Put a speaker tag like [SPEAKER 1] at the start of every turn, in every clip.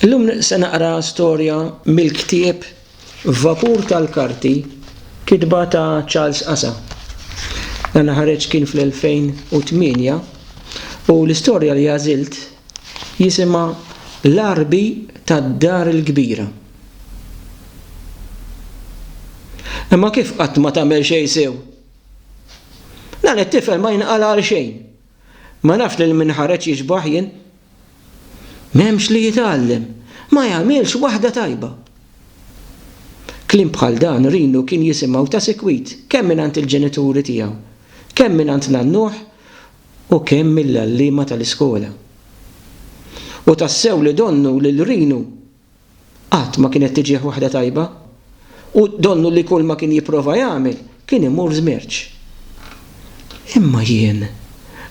[SPEAKER 1] Illum se naqra storja mill-ktieb Vapur tal-Karti, kitba ta' Charles Casa. Dan ħareġ kien fl-2008 u l-istorja li għażilt jisimha L-Għarbi tad-Dar il-Kbira. Imma kif qatt ma tagħmel xejn sew? Dan it-tifel ma jinqala' għal xejn. Ma nafx lil min ħareġ jixbah jien. M'hemmx li jitgħallem. Ma jagħmilx waħda tajba. Kliem bħal dan Rinu kien jisimgħu ta' sikwit kemm mingħand il-ġenituri tiegħu, kemm mingħand nannuh u kemm mill-għalliema tal-iskola. U tassew li donnu lil Rinu Qatt ma kienet tiġih waħda tajba, u donnu li kulma kien jipprova jagħmel kien imur żmerċ. Imma jien,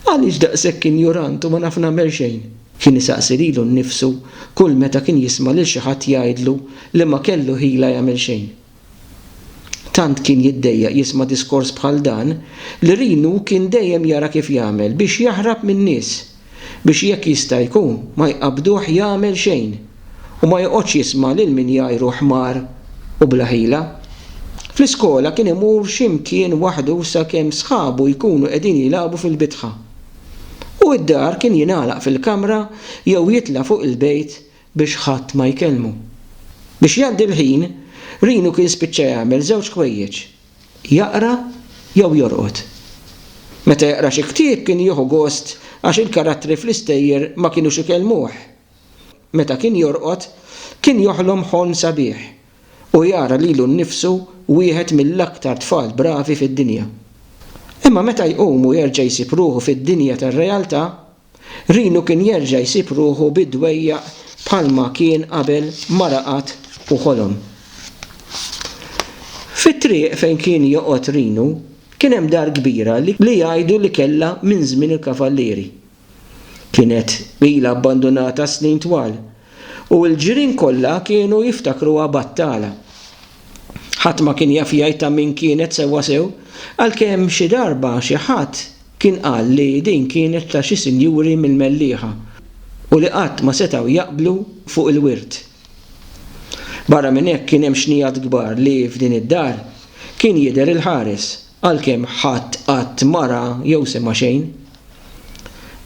[SPEAKER 1] għaliex daqshekk injurant u ma naf nagħmel xejn? kien isaqsi lilu nnifsu kull meta kien jisma' lil xi ħadd jgħidlu li ma kellu ħila jagħmel xejn. Tant kien jiddejjaq jisma' diskors bħal dan li Rinu kien dejjem jara kif jagħmel biex jaħrab min-nies biex jekk jista' jkun ma jqabbduh jagħmel xejn u ma joqgħodx jisma' lil min jgħajru ħmar u bla ħila. Fl-iskola kien imur xi mkien waħdu sakemm sħabu jkunu qegħdin jilagħbu fil-bitħa. U d-dar kien jingħalaq fil-kamra jew jitla' fuq il-bejt biex ħadd ma jkellmu. Biex jgħaddi l-ħin, Rino kien spiċċa jagħmel żewġ ħwejjeġ, jaqra jew jorqod. Meta jaqra xi ktieb kien jieħu gost għax il-karattri fl-istejjer ma kinux ikellmuh. Meta kien jorqod, kien joħlom ħolm sabiħ u jara lilu nnifsu wieħed mill-aktar tfal bravi fid-dinja. Imma meta jqum u jerġa' jsib ruħu fid-dinja tar-realtà, Rinu kien jerġa' jsib ruħu bi dwejjaq bħalma kien qabel ma raqad u ħolom. Fit-triq fejn kien joqgħod Rinu kien hemm dar kbira li jgħidu li kellha minn żmien il-Kavallieri. Kienet ilha abbandunata snin twal u l-ġirien kollha kienu jiftakruha battala. Ħadd ma kien jaf jgħid ta' min kienet sewwasew għalkemm xi darba xi ħadd Kien qal li din kienet ta' xi sinjuri mill-Mellieħa u li qatt ma setgħu jaqblu fuq il-wirt. Barra minn hekk kien hemm xnigħat kbar li f'din id-dar kien jidher il-ħares għalkemm ħadd qatt ma ra jew sema' xejn.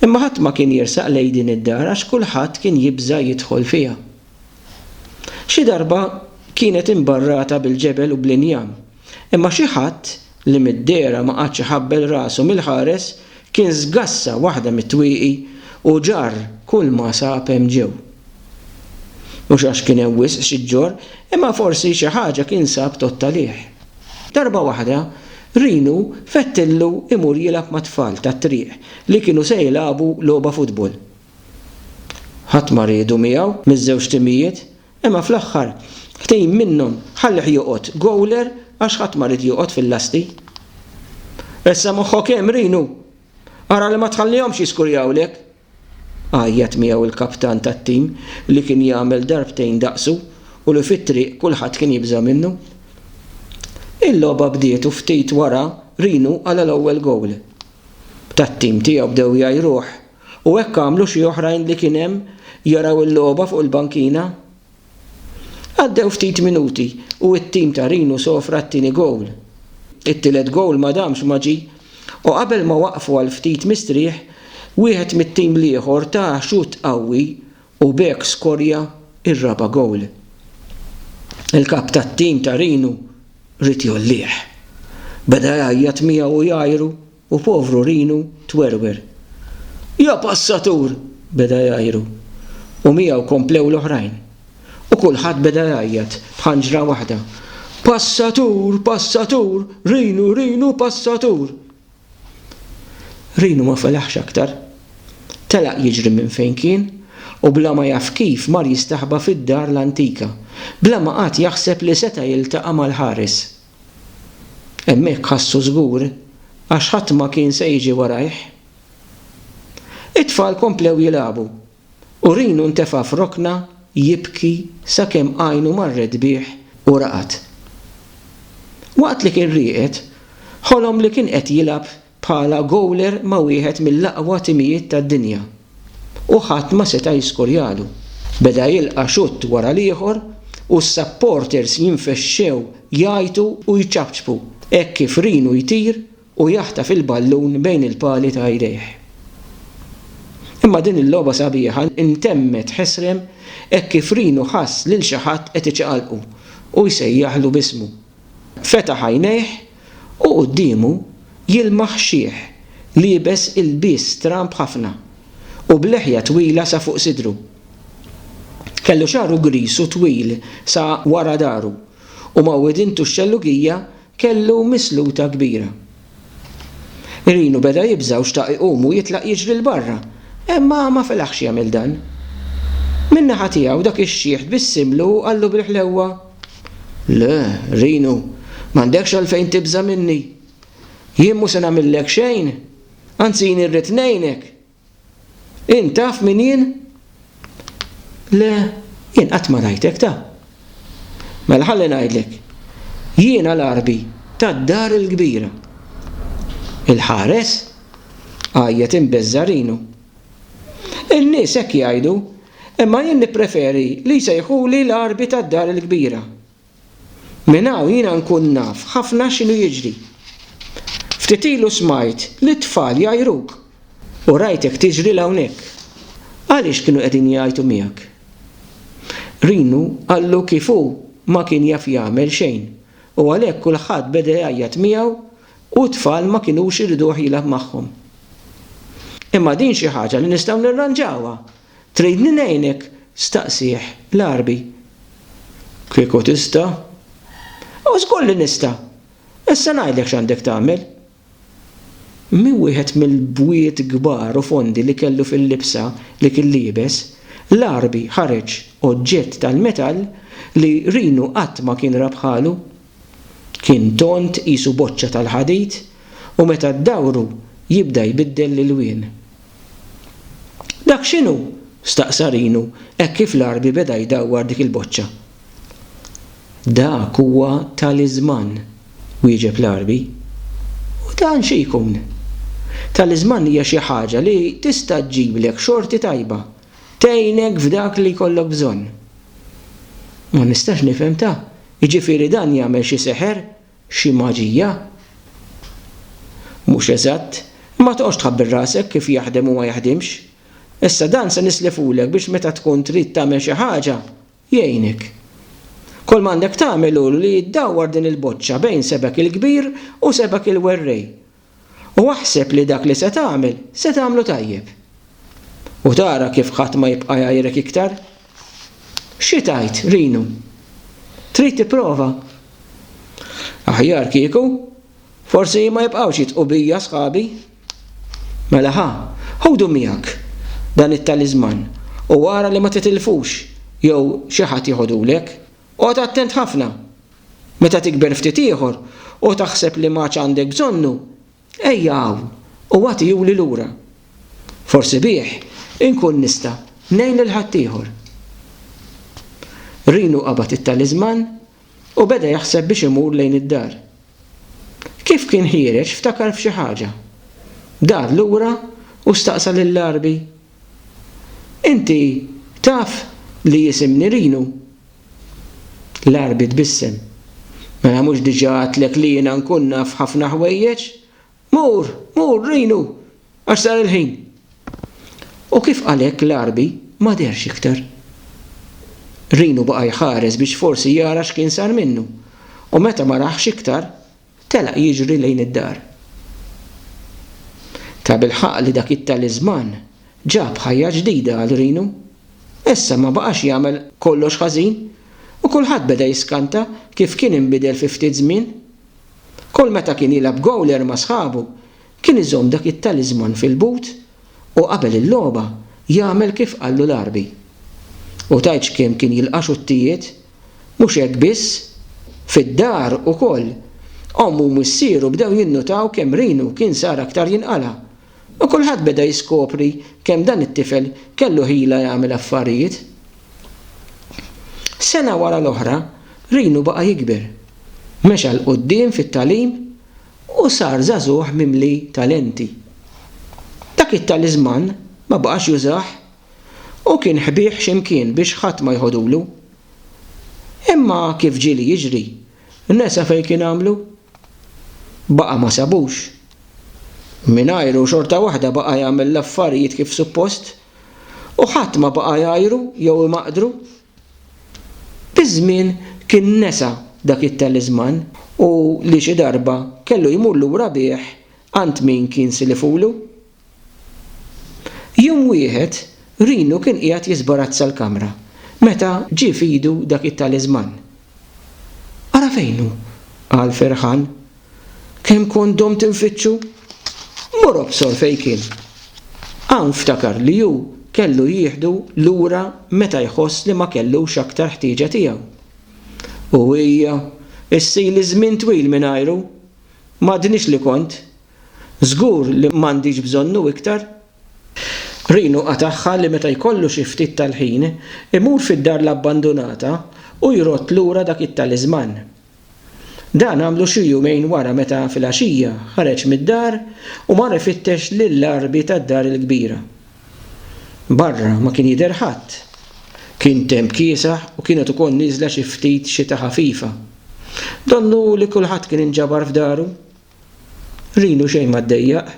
[SPEAKER 1] Imma ħadd ma kien jersaq lejn din id-dar għax kulħadd kien jibża' jidħol fiha. Xi darba kienet imbarrata bil-ġebel u bl-injam Imma xi ħadd, li mid-dehra ma qagħadx iħabbel rasu mill-ħares, kien żgassa waħda mit-twieqi u ġarr kulma sab hemm ġew. Mhux għax kien hemm wisq xi ġġorr, imma forsi xi ħaġa kien sab t'għodd għalih. Darba waħda, Rinu fettillu imur jilgħab mat-tfal tat-triq li kienu se jilagħbu logħba futbol. Ħadd ma riedu miegħu miż-żewġ timijiet, Imma fl-aħħar ftehim minnhom ħallih joqgħod goaler għax ħadd ma ried joqgħod fil-lasti. Ressa' moħħok hemm, Rinu! Ara li ma tħallihomx jiskurjawlek! għajjat miegħu l-kaptan tat-tim li kien jagħmel darbtejn daqsu u li fit-triq kulħadd kien jibża' minnu. Il-logħba bdiet u ftit wara Rinu qala' l-ewwel goal. Tat-tim tiegħu bdew jgħajruh U hekk għamlu xi oħrajn li kien hemm jaraw il-logħba fuq il-bankina. Għaddew ftit minuti u t-tim ta' Rinu sofra t-tieni gowl. It-tielet gowl ma damx ma ġie u qabel ma waqfu għal ftit mistrieħ, wieħed mit-tim l-ieħor ta xutt qawwi u b'hekk skorja r-raba' gowl. Il-kap tat-tim ta' Rinu ried jgħollih. Beda jgħajjat miegħu u jgħajru. u povru Rinu twerwer. Ja passatur! beda jgħajru, u miegħu komplew l-oħrajn. U kulħadd beda jgħajjat b'ħanġra waħda, Passatur! Passatur! Rinu! Rinu! Passatur! Rinu ma felaħx aktar. Telaq jiġri minn fejn kien, u bla ma jaf kif mar jistaħba fid-dar l-antika, bla ma qagħad jaħseb li seta' jiltaqa' mal-ħares. Hemmhekk ħassu żgur għax ħadd ma kien se jiġi warajh. It-tfal komplew jilagħbu u Rinu ntefa' f'rokna jibki sakemm għajnu marret bih u raqad. Waqt li kien rieqed, ħolom li kien qed jilgħab bħala gowler ma' wieħed mill-aqwa timijiet tad-dinja u ħadd ma seta' jiskorjalu. Beda jilqa' xutt wara l-ieħor u s-supporters jinfexxew jgħajtu u jċapċpu hekk kif Rinu jtir u jaħtaf il-ballun bejn il-pali ta' jdejh. Imma din il-logħba sabiħa ntemmet ħesrem hekk kif Rinu ħass lil xi ħadd qed iċaqalqu u jsejjaħlu b'ismu. Fetaħ għajnejh U quddiemu jilmaħ xiħ liebes ilbies stramb ħafna u b'leħja twila sa fuq sidru. Kellu xagħru griż u twil sa wara dahru u ma' widintu x-xellugija kellu misluta kbira. Rinu beda jibża' u xtaq iqum u jitlaq jiġri 'l barra, imma ma felaħx jagħmel dan. Min-naħa tiegħu dak ix-xiħ tbissimlu u qallu bil-ħlewwa. Le, Rinu, m'għandekx għalfejn tibża' minni. Jien mhu se nagħmillek xejn, anzi jien irrid ngħinek. Int taf min jien? Le, jien qatt ma rajtek, ta. Mela ħalli ngħidlek. Jiena l-għarbi tad-dar il-kbira. Il-ħares? għajjet imbeżża' Rinu. In-nies hekk jgħidu Imma jien nippreferi li jsejħuli l-Għarbi tad-Dar il-Kbira. Minn hawn jiena nkun naf ħafna x'inhu jiġri. Ftit ilu smajt lit-tfal jgħajruk u rajtek tiġri 'l hawnhekk. Għaliex kienu qegħdin jgħajtu miegħek? Rinu qallu kif hu ma kien jaf jagħmel xejn u għalhekk kulħadd beda jgħajjat miegħu U t-tfal ma kinux iriduh jilgħab magħhom. Imma din xi ħaġa li nistgħu nirranġawha. Tridni ngħinek? staqsieh l-għarbi. Kieku tista'. O żgur li nista'! Issa ngħidlek x'għandek tagħmel. Minn wieħed mill-bwiet kbar u fondi li kellu fil-libsa li kien liebes, l-għarbi ħareġ oġġett tal-metall li Rinu qatt ma kien ra bħalu. Kien tond qisu boċċa tal-ħadid u meta ddawru jibda jbiddel l-ilwien. Dak x'inhu? staqsa Rinu hekk kif l-Għarbi beda jdawwar dik il-boċċa. Dak huwa taliżman, wieġeb l-Għarbi. U dan xi jkun? Taliżman hija xi ħaġa li tista' ġġiblek xorti tajba, tgħinek f'dak li jkollok bżonn. Ma nistax nifhem ta' Jiġifieri dan jagħmel xi seħer, xi maġija? Mhux eżatt. Imma toqgħodx tħabbel rasek kif jaħdem u ma jaħdimx. Issa dan se nislifulek biex meta tkun trid tagħmel xi ħaġa, jgħinek. Kull m'għandek tagħmel hu li ddawwar din il-boċċa bejn sebgħek il-kbir u sebgħek il-werrej. u aħseb li dak li se tagħmel se tagħmlu tajjeb. U tara kif ħadd ma jibqa' jgħajrek iktar. Xi tgħid, Rinu? Trid tipprova? Aħjar kieku, forsi ma jibqgħux jitqu bija sħabi. Mela ħa, ħudu miegħek dan it-taliżman u ara li ma titilfux jew xi ħadd jeħodulek. Qgħod attent ħafna Meta tikber ftit ieħor u taħseb li m'għadx għandek bżonnu, ejja hawn u agħtihuli lura. Forsi bih inkun nista' ngħin lil ħaddieħor. Rinu qabad it-taliżman u beda jaħseb biex imur lejn id-dar. Kif kien ħiereġ ftakar f'xi ħaġa. Dar lura u staqsa lill-għarbi Inti taf li jisem Nirinu? L-Għarbi tbissem. Mela mhux diġà għedtlek li jiena nkun naf ħafna ħwejjeġ? Mur, mur, Rinu, għax sar il-ħin. U kif qal hekk l-Għarbi ma dehrx iktar. Rinu baqa' jħares biex forsi jara x'kien sar minnu, u meta ma rahx iktar, Telaq jiġri lejn id-dar. Tabilħaqq li dak it-taliżman ġab ħajja ġdida għal Rinu. Issa ma baqax jagħmel kollox ħażin u kulħadd beda jiskanta kif kien inbidel fi ftit żmien. Kull meta kien jilgħab gowler ma' sħabu, kien iżomm dak it-taliżman fil-but u qabel il-logħba jagħmel kif qallu l-Għarbi. U tgħidx kemm kien jilqa' xuttijiet! Mhux hekk biss, fid-dar ukoll, omm u missieru bdew jinnutaw kemm Rinu kien sar aktar jinqala'. U kulħadd beda jiskopri kemm dan it-tifel kellu ħila jagħmel affarijiet. Sena wara l-oħra, Rinu baqa' jikber. Mexa 'l quddiem fit-tagħlim u sar żagħżugħ mimli talenti. Dak it-taliżman ma baqax jużah u kien ħbieh x'imkien biex ħadd ma jħodulu. Imma kif ġieli jiġri, nesa fejn kien għamlu. Baqa' ma sabux. Mingħajru xorta waħda baqa' jagħmel l-affarijiet kif suppost u ħadd ma baqa' jgħajru jew imaqdru. Biż-żmien kien nesa dak it-taliżman u li xi darba kellu jmur lura bih għand min kien silifulu. Jum wieħed, Rinu kien qiegħed jiżbarazza l-kamra meta ġie f'idu dak it-taliżman. Ara fejn hu! qal ferħan. Kemm kont domt infittxu! Mur obsor fejn kien! Hawn ftakar li hu kellu jieħdu lura meta jħoss li ma kellux aktar ħtieġa tiegħu. U hija, issili żmien twil mingħajru! M'għadnix li kont! Żgur li m'għandix bżonnu iktar. Rinu qatagħha li meta jkollu xi ftit tal-ħin, imur fid-dar l-abbandunata u jrodd lura dak it-taliżman. Dan għamlu xi jumejn wara meta filgħaxija ħareġ mid-dar u mar ifittex lill-għarbi tad-dar il-kbira. Barra ma kien jidher ħadd. Kien temp kiesaħ u kienet ukoll nieżla xi ftit xita ħafifa. Donnu li kulħadd kien inġabar f'daru. Rinu xejn ma ddejjaq.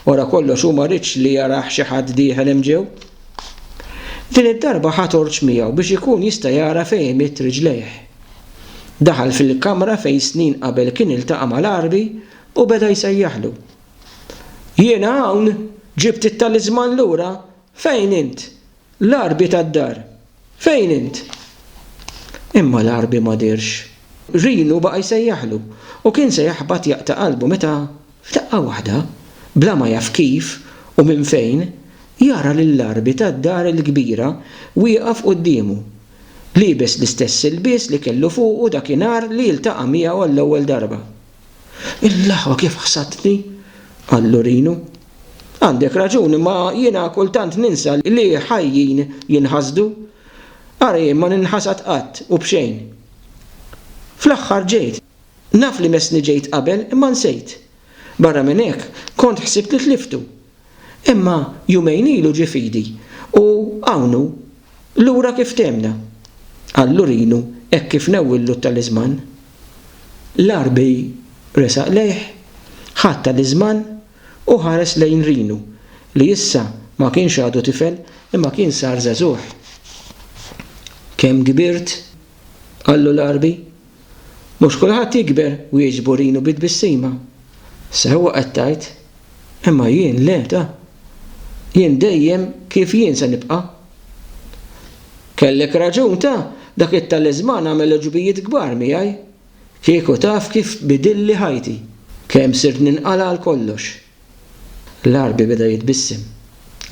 [SPEAKER 1] Wara kollox hu ma riedx li jarah xi ħadd dieħel hemm ġew. Din id-darba ħa torċ miegħu biex ikun jista' jara fejn imidd riġlejh. Daħal fil-kamra fejn snin qabel kien iltaqa' mal-Għarbi u beda jsejjaħlu. Jiena hawn! Ġibt it-taliżman lura! Fejn int? L-għarbi tad-dar. Fejn int? Imma l-għarbi ma dehrx. Rinu baqa' jsejjaħlu, u kien se jaħbat jaqta' qalbu meta, f'daqqa waħda, bla ma jaf kif u minn fejn, jara lill-għarbi tad-dar il-kbira wieqaf quddiemu, liebes l-istess ilbies li kellu fuqu dakinhar li ltaqa' miegħu għall-ewwel darba. Il-laħwa kif ħsatni! qal Lurinu. Għandek raġun, imma jiena kultant ninsa li ħajjin jinħasdu. Ara jien ma ninħasad qatt u b'xejn. Fl-aħħar ġejt. Naf li messni ġejt qabel, imma nsejt. Barra minn hekk, kont ħsibt li tliftu. Imma jumejn ilu ġie f'idi u hawn hu, lura kif tehmna! qal Lurinu hekk kif newwillu t-taliżman. L-Għarbi resaq lejh, ħadd taliżman u ħares lejn Rinu li issa ma kienx għadu tifel imma kien sar żagħżugħ. Kemm kbirt? qallu l-Għarbi. Mhux kulħadd jikber, wieġbu Rinu bi tbissima. Sewwa qed tgħid. Imma jien le, ta. Jien dejjem kif jien se nibqa', Kellek raġun ta', dak it-taliżman għamel għuġbijiet kbar miegħi. Kieku taf kif bidilli ħajti. Kemm sirt ninqala' għal kollox. L-Għarbi beda jitbissem.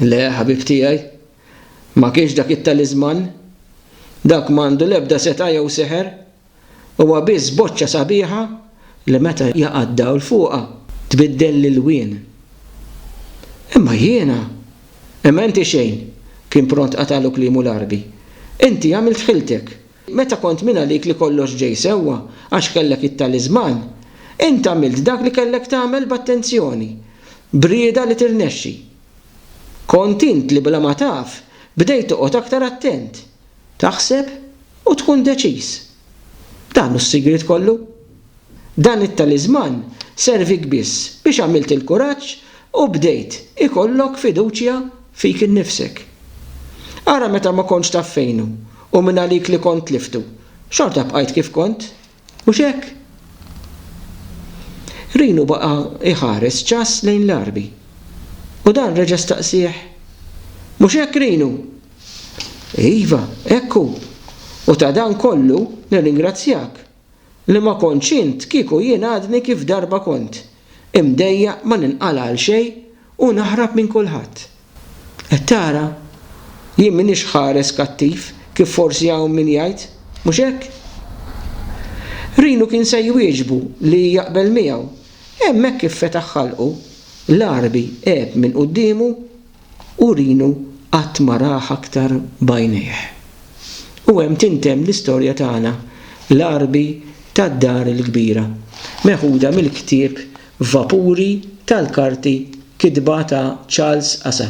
[SPEAKER 1] Le, ħabib tiegħi. Ma kienx dak it-taliżman. Dak m'għandu l-ebda setgħa jew seħer. Huwa biss boċċa sabiħa li meta jaqa' d-dawl fuqha tbiddel l-ilwien. Imma jiena? Imma inti xejn, kien pront qatagħlu kliemu l-Għarbi. Inti għamilt ħiltek. Meta kont mingħalik li kollox ġej sewwa għax kellek it-taliżman, int għamilt dak li kellek tagħmel b'attenzjoni, b'rieda li tirnexxi. Kont int li bla ma taf bdejt toqgħod aktar attent, Taħseb u tkun deċiż. Dan hu s-sigriet kollu. Dan it-taliżman servik biss biex għamilt il-kuraġġ u bdejt ikollok fiduċja fik innifsek. Ara meta ma kontx taf fejn hu u mingħalik li kont tliftu, xorta bqajt kif kont? Mhux hekk? Rinu baqa' jħares ċass lejn l-għarbi, u dan reġa' staqsieh, Mhux hekk, Rinu? Iva, hekk hu, u ta' dan kollu nirringrazzjak, li ma kontx int kieku jien għadni kif darba kont, imdejjaq ma ninqala' għal xejn u naħrab minn kulħadd. Qed tara? Jien m'iniex ħares kattiv kif forsi hawn min jgħid, mhux hekk? Rhino kien se jwieġbu li jaqbel miegħu, hemmhekk kif fetaħ ħalqu, l-Għarbi għeb minn quddiemu U Rinu qatt ma rah aktar b'għajnejh. U hemm tintemm l-istorja tagħna, l-għarbi tad-Dar il-Kbira, meħuda mill-ktieb Vapuri tal-karti kitba ta' Charles Asa.